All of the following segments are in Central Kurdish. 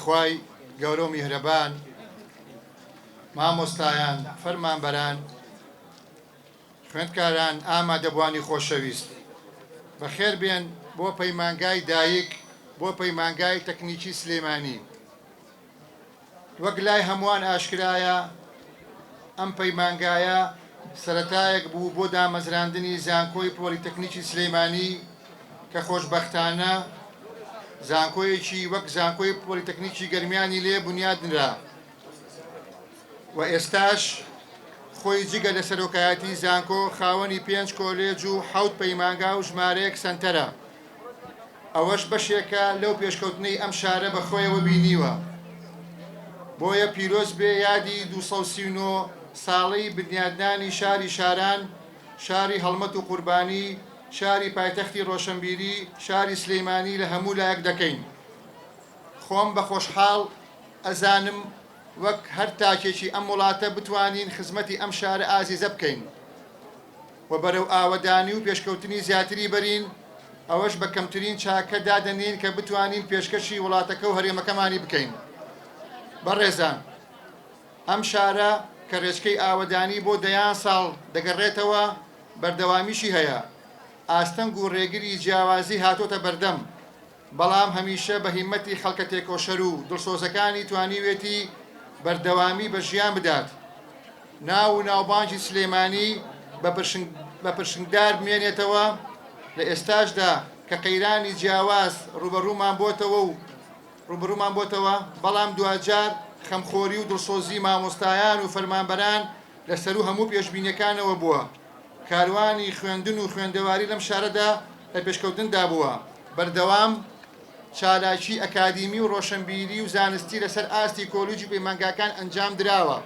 خوای گەورەو میهرەبان مامۆستایان فەرمانبەران خوێندکاران ئامادەبوانی خۆشەویست بەخێر بێن بۆ پەیمانگای دایک بۆ پەیمانگای تەکنیکی سلیمانی وەک لای هەمووان ئاشکرایە ئەم پەیمانگایە سەرەتایەک بوو بۆ دامەزراندنی زانکۆی پۆلیتەکنیکی سلیمانی کە خۆشبەختانە زانکۆیەکی وەک زانکۆی پۆلیتەکنیکی گەرمیانی لێ بنیادنرا و ئێستاش خۆی جگە لە سەرۆکایەتی زانکۆ خاوەنی پێنج کۆلێج و حەوت پەیمانگا و ژمارەیەک سەنتەرە ئەوەش بەشێکە لەو پێشکەوتنەی ئەم شارە بەخۆیەوە بینیوە بۆیە پیرۆز بێ یادی 239 ساڵەی بنیادنانی شاری شاران شاری هەڵمەت و قوربانی شاری پایتەختی ڕۆشەنبیری شاری سلیمانی لە هەموو لایەک دەکەین خۆم بە خۆشحاڵ ئەزانم وەک هەر تاکێکی ئەم وڵاتە بتوانین خزمەتی ئەم شارە ئازیزە بکەین و بەرەو ئاوەدانی و پێشکەوتنی زیاتری بەرین ئەوەش بە کەمترین چاکە دادەنین کە بتوانین پێشکەشی وڵاتەکە و هەرێمەکەمانی بکەین بەڕێزان ئەم شارە کە ڕێچکەی ئاوەدانی بۆ دەیان ساڵ دەگەڕێتەوە بەردەوامیشی هەیە، ئاستەنگ و رێگری جیاوازی هاتۆتە بەردەم، بەڵام هەمیشە بە هیمەتی خەڵکە تێکۆشەر و دڵسۆزەکانی توانیوێتی بەردەوامی بە ژیان بدات، ناو و ناوبانگی سلێمانی بە پرشنگدار بمێنێتەوە، لە ئێستاشدا کە قەیرانی جیاواز رووبەڕوومان بۆتەوە و، ڕوبەڕومان بۆتەوە، بەڵام دواجار خەمخۆری و دڵسۆزی مامۆستایان و فەرمانبەران لە سەرو هەموو پێشبینیەکانەوە بووە، کاروانی خوێندن و خوێندەواری لەم شارەدا لە پێشکەوتندا بووە، بەردەوام چالاکی ئەکادیمی و ڕۆشەنبیری و زانستی لەسەر ئاستی کۆلیج و پەیمانگاکان ئەنجام دراوە،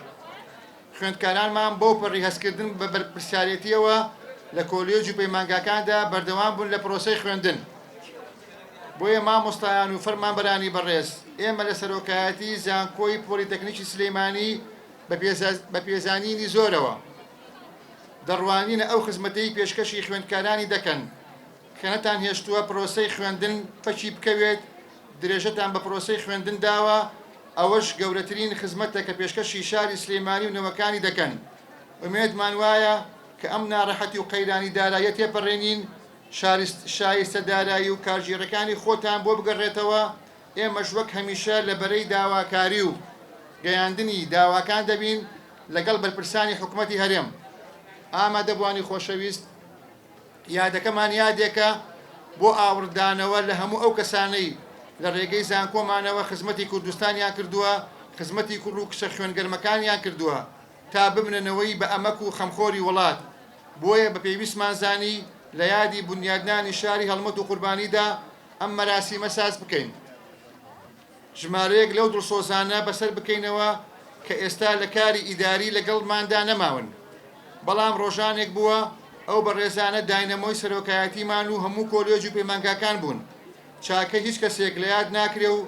خوێندکارانمان بەو پەڕی هەستکردن بە بەرپرسیارێتیەوە لە کۆلێج و پەیمانگاکاندا بەردەوام بوون لە پرۆسەی خوێندن. بۆیە مامۆستایان و فەرمانبەرانی بەڕێز، ئێمە لە سەرۆکایەتی زانکۆی پۆلیتەکنیکی سلێمانی بە پێزانینی زۆرەوە، دەڕوانینە ئەو خزمەتەی پێشکەشی خوێندکارانی دەکەن کە نەتانهێشتووە پرۆسەی خوێندن پەکی بکەوێت، درێژەتان بە پرۆسەی خوێندن داوە، ئەوەش گەورەترین خزمەتە کە پێشکەشی شاری سلێمانی و نەوەکانی دەکەن، ئومێدمان وایە کە ئەم ناڕەحەتی و قەیرانی داراییە تێپەڕێنین، شایستە دارایی و کارگێڕیەکانی خۆتان بۆ بگەڕێتەوە، ئێمەش وەک هەمیشە لە بەرەی داواکاری و گەیاندنی داواکان دەبین لەگەڵ بەرپرسانی حکومەتی هەرێم. ئامادەبوانی خۆشەویست، یادەکەمان یادێکە بۆ ئاوڕدانەوە لە هەموو ئەو کەسانەی لە رێگەی زانکۆمانەوە خزمەتی کوردستانیان کردووە، خزمەتی کوڕ و کچە خوێن گەرمەکانیان کردووە تا ببنە نەوەی بە ئەمەک و خەمخۆری وڵات. بۆیە بە پێویستمان زانی لە یادی بونیادنانی شاری هەڵمەت و قوربانیدا ئەم مەراسیمە ساز بکەین. ژمارەیەک لەو دڵسۆزانە بەسەر بکەینەوە کە ئێستا لە کاری ئیداری لەگەڵماندا نەماون. بەڵام ڕۆژانێک بووە ئەو بەڕێزانە داینەمۆی سەرۆکایەتیمان و هەموو کۆلێج و پەیمانگاکان بوون. چاکەی هیچ کەسێک لە یاد ناکرێ و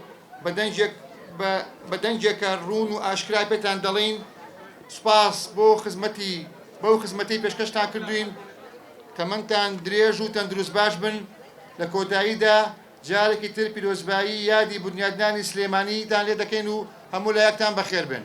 بە دەنگێک بە بە دەنگێکە ڕوون و ئاشکرا پێتان دەڵێین سپاس بۆ خزمەتی بەو خزمەتی پێشکەشتان کردوین تەمەنتان درێژ و تەندروست باش بن لە کۆتاییدا جارێکی تر پیرۆزبایی یادی بنیادنانی سلێمانیتان لێ دەکەین و هەموو لایەکتان بەخێر بن.